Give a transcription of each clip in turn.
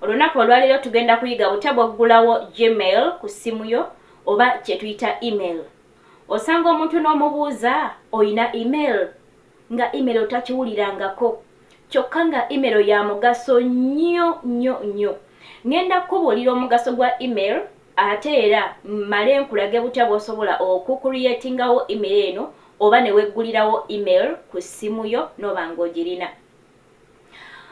Olunaku olwaleero tugenda kuyiga butya bw'oggulawo Gmail ku ssimu yo oba kye tuyita email. Osanga omuntu n'omubuuza olina email nga email otakiwulirangako kyokka nga email ya mugaso nnyo nnyo nnyo. Ngenda kukubuulira omugaso gwa email ate era mmale nkulage butya bw'osobola okukuliyetingawo email eno oba ne weggulirawo email ku ssimu yo n'oba ng'ogirina.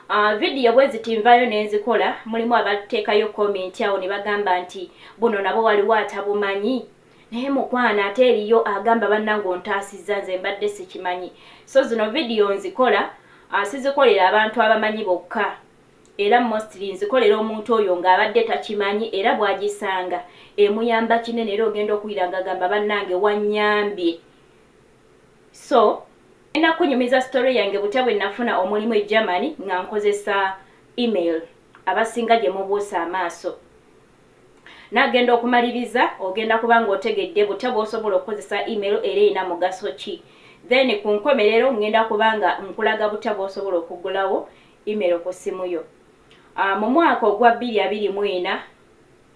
Uh, video bweziti nvayo nenzikola mulimu abatekayo comment awo nebagamba nti buno nabo waliwo atabumanyi naye mukwana ate eriyo agamba bannange ontaasizza nze mbadde sikimanyi so zino vidiyo nzikola ah, sizikolera abantu abamanyi bokka era mostly nzikolera omuntu oyo ng'abadde takimanyi era bw'agisanga emuyamba kinene era ogenda okuwira ng'agamba bannange wannyambye So ngenda kukunyumiza story yange butya bwe nafuna omulimu e Germany nga nkozesa email abasinga gye mubuusa amaaso. Nagenda okumaliriza ogenda kuba nga otegedde butya bw'osobola okukozesa email era erina mugaso ki. Then ku nkomerero ngenda kuba nga nkulaga butya bw'osobola okuggulawo email ku ssimu yo. Ah, mu mwaka ogwa bbiri abiri mu ena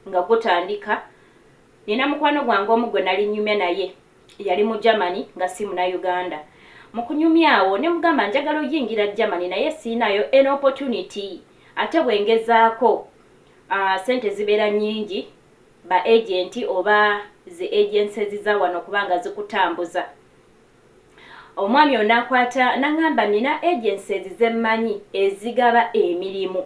nga gutandika, nina mukwano gwange omu gwe nali nnyumya naye Yali mu Germany nga si Munayuganda. Mu kunyumya awo ne mugamba njagala oyingira Germany naye siyinaayo any opportunity ate bwe ngezaako ssente zibeera nnyingi ba agenti oba zi agencies za wano okuba nga zikutambuza. Omwami ono n'akwata n'angamba nnina agencies ze mmanyi ezigaba emirimu.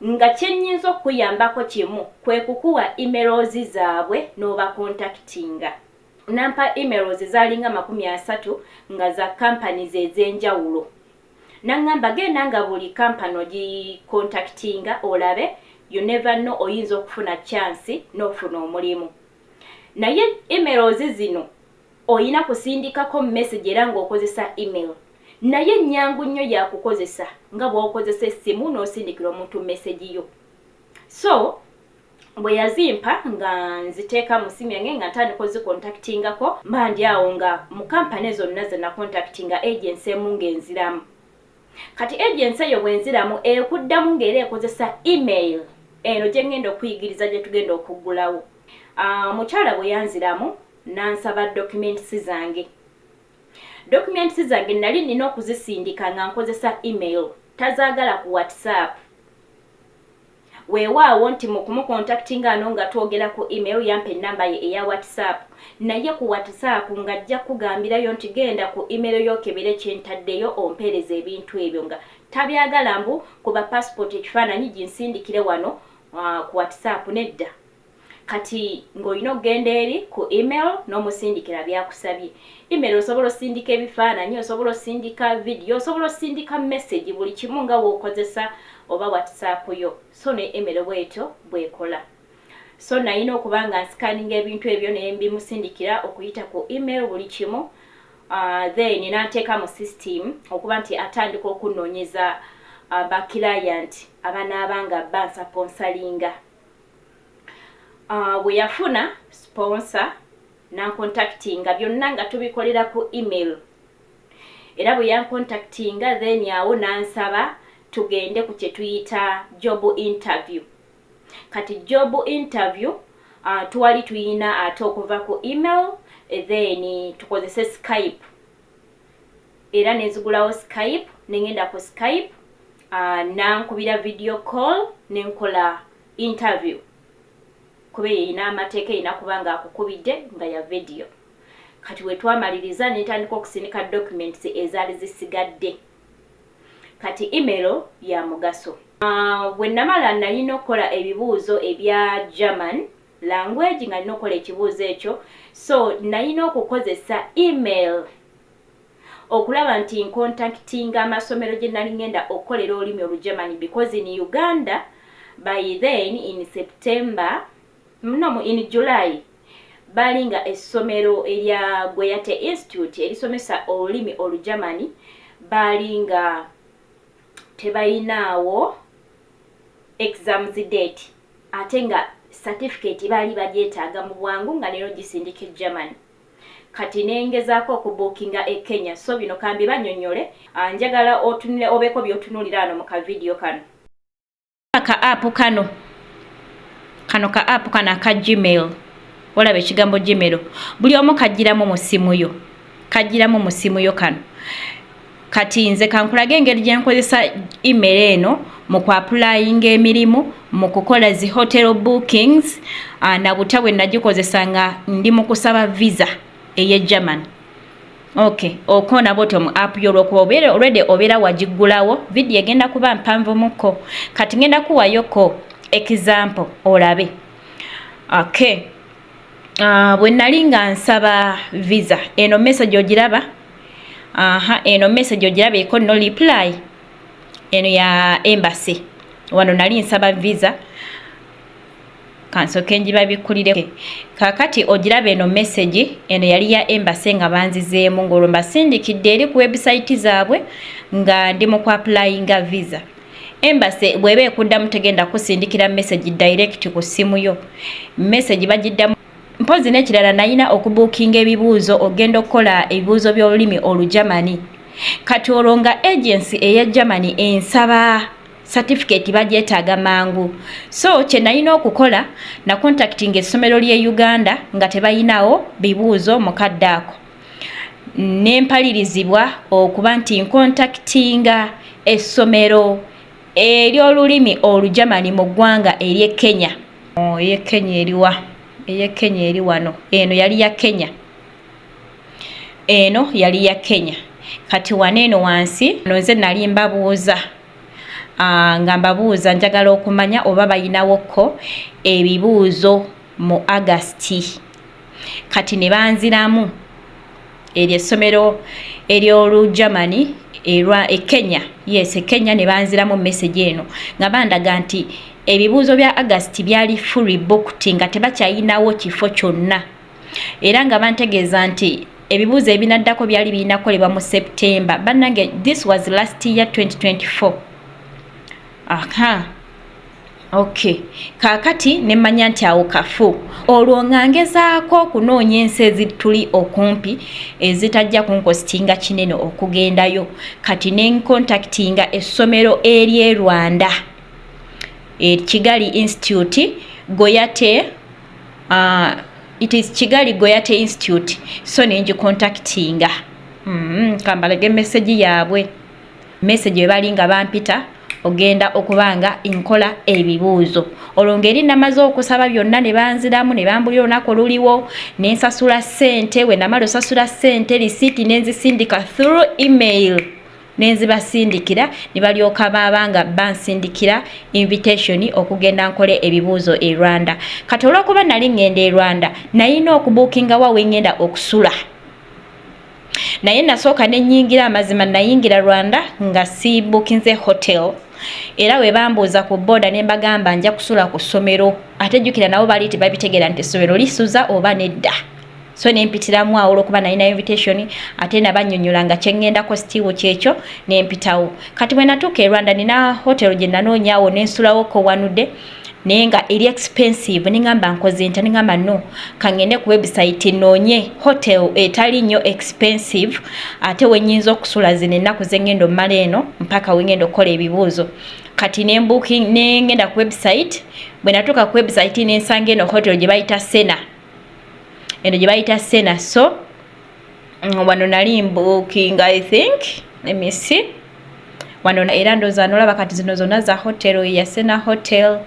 Nga kyenyinza okukuyambako kimu kwekukuwa emails zabwe nobakontakitinga. Nampa emails zalinga amakumi asatu nga za companies ezenjawulo. Nangamba genda nga buli company ogikontakitinga olabe you never know oyinza okufuna chance nofuna omulimu. Naye emails zino Olina kusindikako message era ng'okozesa email. Nayo ennyangu nnyo ya kukozesa nga bw'okozesa essimu n'osindikira omuntu message yo. So, bwe yazimpa nga nziteeka mu ssimu yange nga ntandika ozikontactingako, mba ndi awo nga mu company zonna ze nakontactinga agency emu ng'enziramu. Kati agency eyo bw'enziramu ekuddamu ng'era ekozesa email. Eno gye ngenda okuyigiriza gye tugenda okuggulawo, omukyala bwe yanziramu. N'ansaba documents zange. Documents zange nnali nnina okuzisindika nga nkozesa email, tazaagala ku WhatsApp. Weewaawo nti mu kumukontakitinga ano nga twogera ku email yampa ennamba ye eya WhatsApp naye ku WhatsApp ng'ajja kukugambirayo nti genda ku email yo okebere kye ntaddeyo ompeereze ebintu ebyo nga tabyagala mbu kuba passport ekifaananyi ginsindikire wano ah, ku WhatsApp nedda. Kati ng'olina okugenda eri ku email n'omusindikira by'akusabye. Email osobola osindika ebifaananyi, osobola osindika vidiyo, osobola osindika mesegi, buli kimu nga w'okozesa oba WhatsApp yo. So ne email bw'etyo bw'ekola. So nnalina okuba nga nsikaninga ebintu ebyo ne mbimusindikira okuyita ku email buli kimu, ah, then n'anteeka mu system okuba nti atandika okunnoonyeza ah, ba client abanaaba nga bansaponsalinga. Ah, bwe yafuna sponsor nancontactinga byonna nga tubikolera ku email era bwe yancontactinga then awo nansaba tugende ku kye tuyita job interview kati job interview uh, twali tuyina ate okuva ku email then tukozese skype era nenzigulawo skype nengenda ku skype uh, nankubira video call nenkola interview kuba eyo erina amateeka erina kuba nga akukubidde nga ya video kati wetwamaliriza nentandika okusindika documents ezaali zisigadde kati email ya mugaso uh, wenamala nalina okukola ebibuuzo ebya german Language nga nina okukola ekibuuzo ekyo so nayina okukozesa email okulaba nti nkontakitinga amasomero gyenali ngenda okukolera olulimi olugermany because in uganda by then in September no in July baali nga essomero erya Goyate institute erisomesa olulimi olugermany baali nga tebayinaawo exams date. ate nga satifikeeti baali bagyetaaga mu bwangu nga leero gisindika e Germany kati ne ngezaako okubuukinga e Kenya so bino ka mbibannyonnyole, njagala otunule obeeko by'otunuulira wano mu kavidiyo kano. Ka app kano kano ka app kano aka gmail olaba ekigambo gmail buli omu kajjiramu mu ssimu yo kajjiramu mu ssimu yo kano Kati nze kankulage engeri gye nkozesa email eno mu kuapulayinga emirimu mu kukola zi hotel bookings ah, na butya bwe nagikozesa nga ndi mu kusaba visa eye german ok okoona bwoti omu app yo olwokuba obeera olwede obeera wagiggulawo vidiyo egenda kuba mpanvumukko kati ngenda kuwayoko example olabe ok Ah, bwe nali nga nsaba visa eno message ogiraba aha eno message ogiraba eko no reply eno ya embassy wano nali nsaba visa kansoke njibabikkulire kakati ogiraba eno message eno yali ya embassy nga banzizeemu ng'olwo mbasindikidde eri ku website zaabwe nga ndi mu ku applyinga visa Embassy bweba ekuddamu tegenda kusindikira message direct ku ssimu yo. Message bagiddamu mpozi nekirala nayina okubuukinga ebibuuzo ogenda okukola ebibuuzo by'olulimi olujamani kati olwo nga agency eya germany ensaba certificate bagyetaaga mangu so kye nayina okukola na contactinga essomero ly'e uganda nga tebayinawo bibuuzo mukadde ako ne mpalirizibwa okuba nti nkontakitinga essomero ery'olulimi Olujamani mu ggwanga ery'e Kenya. Oh, ey'e Kenya eriwa? Ey'e Kenya eri wano. Eno yali ya Kenya. Eno yali ya Kenya. Kati wano eno wansi no nze nali mbabuuza ah, nga mbabuuza njagala okumanya oba balinawo ko ebibuuzo mu August. kati ne banziramu eryo essomero ery'olu germany erwa e kenya yes e kenya ne banziramu message eno nga bandaga nti ebibuuzo bya agasti byali fury booked nga tebakyayinawo kifo kyonna era nga bantegeeza nti ebibuuzo ebinaddako byali birina kukolebwa mu september bannange this was last year 2024 aha uh -huh. Okay. Kaakati ne mmanya nti awo kafu. Olwo nga ngezaako okunoonya ensi ezituli okumpi ezitajja kunkositinga kinene okugendayo. Kati ne nkontakitinga essomero ery'e Rwanda, e Kigali Institute Goyate, uh, it is Kigali Goyate Institute, so ne ngikontakitinga. Mm, kambalage message yaabwe. message webali nga bampita ogenda okuba nga nkola ebibuuzo olwo ngeri namaze okusaba byonna ne banziramu ne bambulira olunaku oluliwo ne nsasula ssente we namala osasula ssente lisiiti ne nzisindika through email ne nzibasindikira ne balyoka baaba nga bansindikira invitation okugenda nkole ebibuuzo e rwanda kati olwokuba nali ŋŋenda e rwanda nayina okubuukinga wa we ŋŋenda okusula naye nasooka ne nnyingira amazima nayingira rwanda nga sibukinze hotel era bwe bambuuza ku booda ne mbagamba nja kusula ku ssomero ate jjukira nabo baali tebabitegeera nti essomero lisuza oba nedda so nempitiramu awo olwokuba nalina invitation ate nabanyonyola nga kyeŋŋendako sitiiwo kyekyo nempitawo kati bwe natuuka e rwanda nina hotel gye nanoonyaawo nensulawoko wanudde naye nga eri expensive ningamba nkoze nta ningamba no kangende ku website nonye hotel etali nnyo expensive ate wenyinza okusula zino ennaku zengenda omala eno mpaka wengenda okukola ebibuuzo kati nembuki nengenda ku website bwe natuuka ku website nensanga eno hotel gye bayita sena eno gye bayita sena so mm, wano nali mbukinga i think let me see wano era ndoza nolaba kati zino zona za hotel ya sena hotel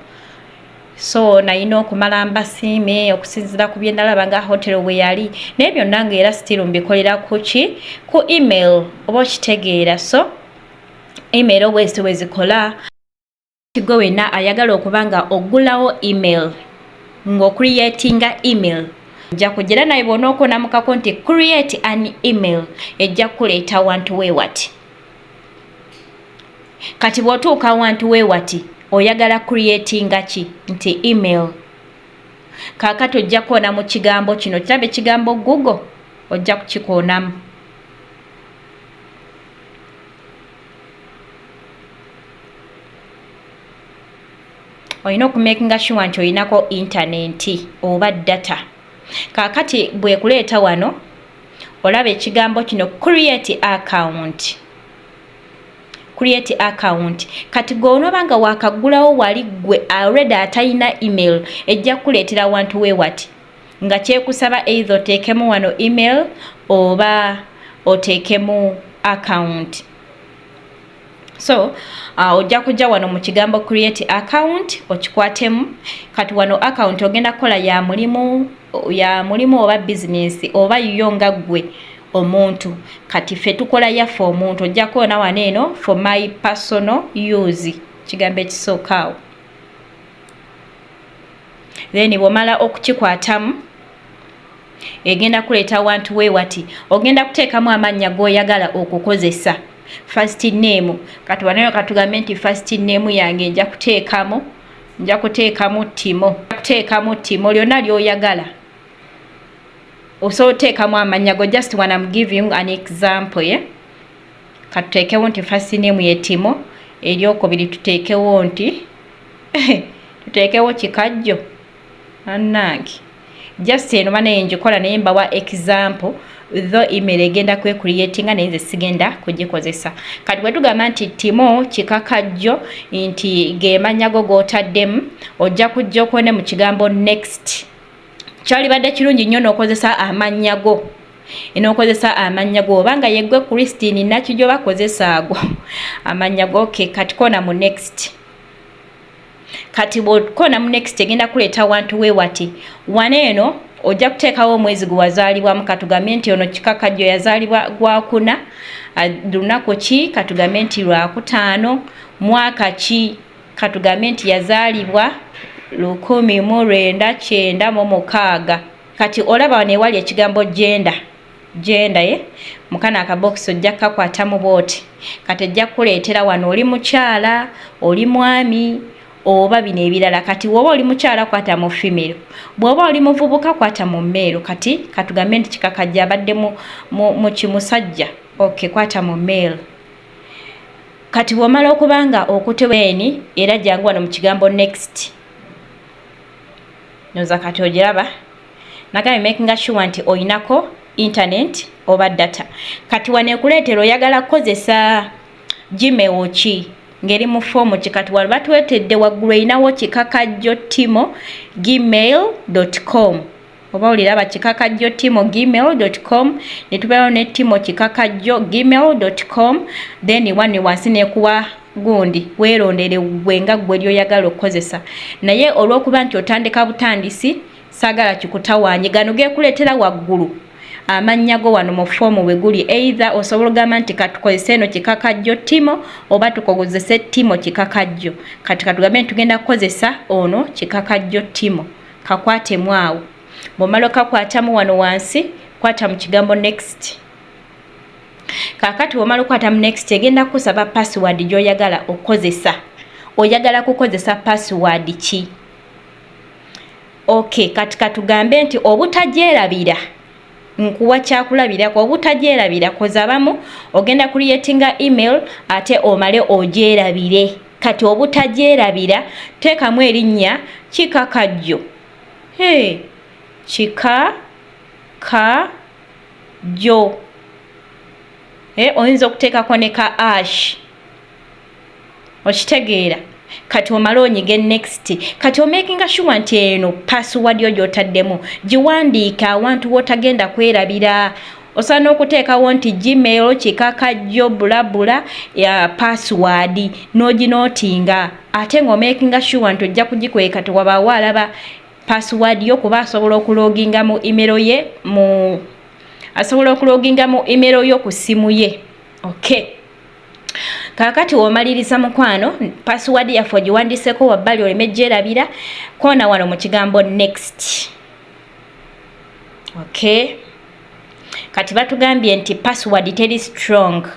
so nayina okumala mbasiime okusinzira ku byendalaba nga hotel bwe yali naye byonna nga era still mbikolera kuki ku email oba okitegeera so email obwezi tewezikola Gwe wena ayagala okuba nga ogulawo email ngo creatinga email ojja kujira naye bwona okonamukako nti create an email ejja kukuleeta wantu wewati kati bwotuuka wantu wewati oyagala creatinga ki nti email kakati ojja kuona mu kigambo kino kirabe kigambo google ojja kukikoonamu olina okumakinga sure nti olinako intanenti oba data kakati bwekuleeta wano olaba ekigambo kino create account create account kati gwe onoba nga wakagulawo wali gwe already atalina email ejja kukuleetera wantu we wati nga kyekusaba eithe oteekemu wano email oba oteekemu account so uh, ojja kujja wano mu kigambo create account okikwatemu kati wano account ogenda kukola ya mulimu ya mulimu oba business oba yo nga ggwe omuntu kati ffe tukola yaffe omuntu ojja kuona wano eno for my personal use kigambo ekisookaawo then bwomala okukikwatamu egenda kuleeta wantu we wati ogenda kuteekamu amannya g'oyagala okukozesa first name katubanayo katugambe nti first name yange nja kuteekamu nja kuteekamu timo kuteekamu timo lyonna ly'oyagala osobola oteekamu amannya go just one am giving an example ye yeah? katuteekewo nti first name ye timo eryokubiri tuteekewo nti tuteekewo kikajjo anange just eno banaye njikola naye mbawa example tho email egenda kwekuriyetinga naye nze sigenda kugikozesa kati bwetugamba nti timo kikakajjo nti gemanya go gotaddemu ojja kujja okone mu kigambo next kyalibadde kirungi nnyo n'okozesa amannya go enokozesa amannya go obanga yeggwe christine nakijo bakozesa ago amannya go ke katikona mu next kati bwokona mu next egenda kuleeta wantu we wati wana eno ojja kuteekawo omwezi gwe wazaalibwamu katugambe nti ono kikakajjo yazaalibwa gwakuna lunaku ki katugambe nti lwakutaano mwaka ki katugambe nti yazaalibwa lukumi mu lwenda kyenda mu mukaaga kati olaba wano ewali ekigambo genda genda ye mukana akabokisi ojja kukakwatamu bwoti kati ejja kukuleetera wano oli mukyala oli mwami oba bino ebirala kati woba oli mukyala kwata mu fimiro bwoba oli muvubuka kwata mu meero kati katugambe nti kikakajja abadde mu kimusajja ok kwata mu mail kati bwomala okuba nga okuteweni era jangu wano mu kigambo next noza kati ogiraba nagambye makinga sure nti olinako internet oba data kati wanekuleetera oyagala kukozesa gimewo ki ngeri mu foomu ki kati wali batwetedde waggulu erinawo kikakajjo timo gmail com oba oliraba kikakajjo timo gmail com ne tubeerawo ne timo kikakajjo gmail com then wani wansi nekuwa gundi weerondere gwe nga gwe lyoyagala okukozesa naye olw'okuba nti otandika butandisi sagala kikutawanye gano gekuletera waggulu amannya go wano mu foomu bwe guli eitha osobola ogamba nti katukozese eno kikakajjo timo oba tukozese timo kikakajjo kati katugambe nti tugenda kukozesa ono kikakajjo timo kakwatemu awo bwomala okakwatamu wano wansi kwata mu kigambo next kakati bwomala okwata mu next egenda kukusaba password gyoyagala okukozesa oyagala kukozesa password ki Okay kati katugambe nti obutagyerabira nkuwa kyakulabirako obutagyerabira koza abamu ogenda creatinga email ate omale ogyerabire kati obutagyerabira teekamu erinnya kika kajjo he kika ka jjo e oyinza okuteekako ne ka ash okitegeera kati omale onyige next kati omakinga sure nti eno password yo gyotaddemu giwandiike awantu wotagenda kwerabira osana okuteekawo nti gmail kikaka jjo bulabula ya password noginotinga ate nga omakinga sure nti ojja kugikweka tewabaawo alaba password yo kuba asobola okuloginga mu imero ye mu asobola okuloginga mu imero yo ku ssimu ye okay kakati womaliriza mukwano password yaffe ogiwandiseko wabbali oleme gyerabira koona wano mu kigambo next okay kati batugambye nti password teri strong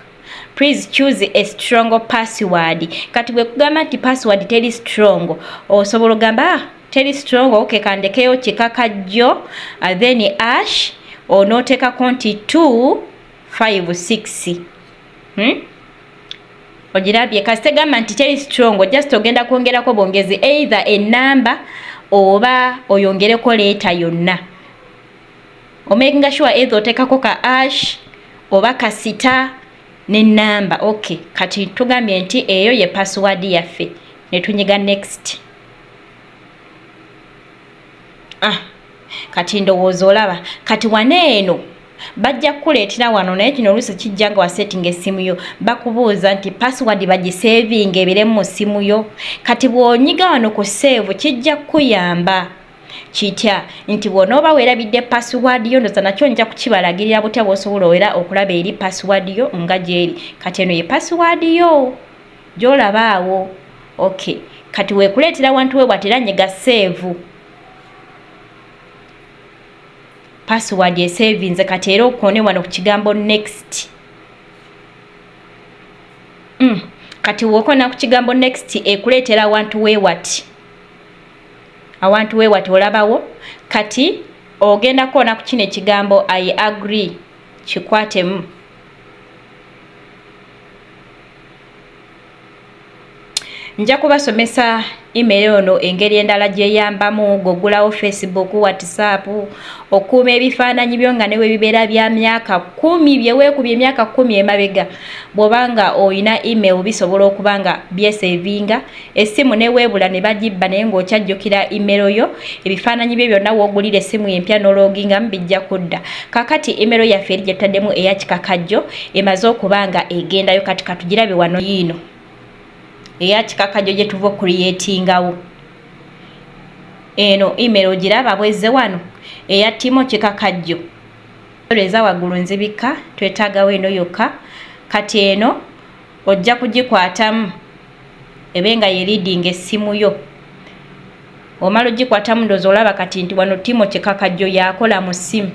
please choose a strong password kati bwekugamba nti password teri strong osobola ogamba ah, teri strong okay kandekeyo kikaka jjo uh, then ash onotekako nti 2 5 6 Hmm? ogirabye kasite gamba nti teri strong just ogenda kwongerako bwongezi either enamba oba oyongereko leeta yonna omakinga sure eithe otekako ka ash oba kasita nenamba ok kati tugambye nti eyo ye password yaffe netunyiga next Ah, kati ndowooza olaba kati wano eno bajja kukuleetera wano naye kino oluusi kijja nga wasetinga essimu yo bakubuuza nti password bagisevinga ebire mu ssimu yo kati bw'onyiga wano ku seevu kijja kukuyamba kitya nti bw'onooba weerabidde password yo ndoza nakyo nja kukibalagirira butya bw'osobola owera okulaba eri password yo nga gyeri kati eno ye password yo Gyolaba awo okay kati wekuleetera wantu we bwati era nyega seevu password esevinze kati era okone wano ku kigambo next mm. kati wokona ku kigambo next ekuleetera awantu wewati awantu wewati olabawo kati ogenda kuona ku kino ekigambo i agree kikwatemu nja kubasomesa email ono engeri endala gyeyambamu gogulawo facebook whatsapp okuuma ebifaananyi byo nga newe bibeera bya myaka kumi byeweekuba emyaka kumi emabega bwobanga olina email bisobola okuba nga byesevinga Essimu neweebula ne bagibba naye ng'okyajjukira imero yo, ebifaananyi byo byonna w'ogulira essimu empya n'oloogingamu bijja kudda. Kaakati imero yaffe eri gye tutaddemu eya kikakajjo emaze okuba nga egendayo kati katugirabe wano yiino eya kikakajjo gye tuva okuliyeetingawo. Eno imero ogiraba bwezze wano eya timo kikakajjo. Eza waggulu nzibikka twetaagawo eno yokka kati eno ojja kugikwatamu ebe nga yeridinga essimu yo omala ogikwatamu ndozi olaba kati nti wano timo kikakajjo yakola mu ssimu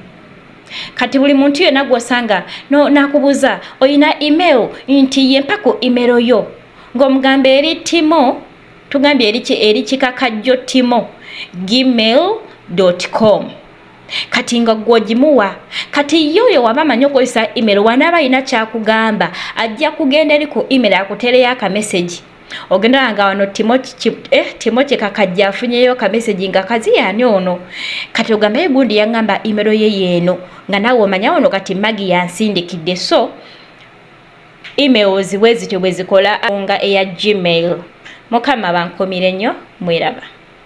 kati buli muntu yena gwosanga no, nakubuza oyina email nti yempa ku email yo ng'omugamba eri timo tugambye eri kikakajjo timo gmail com kati nga gwogimuwa kati yo oyo waba amanyi okozesa email wanaaba alina kyakugamba ajja kugenda eri ku email akutereyo akamesegi ogendala nga wano timoce eh, kakajja afunyeyo kamesegi nga kaziyani ono kati ogambaye gundi yaŋamba imero ye yeeno nga nawe omanya ono kati magi yansindikidde so emails bwe zityo bwe zikola nga eya gmail mukama bankomire nnyo mweraba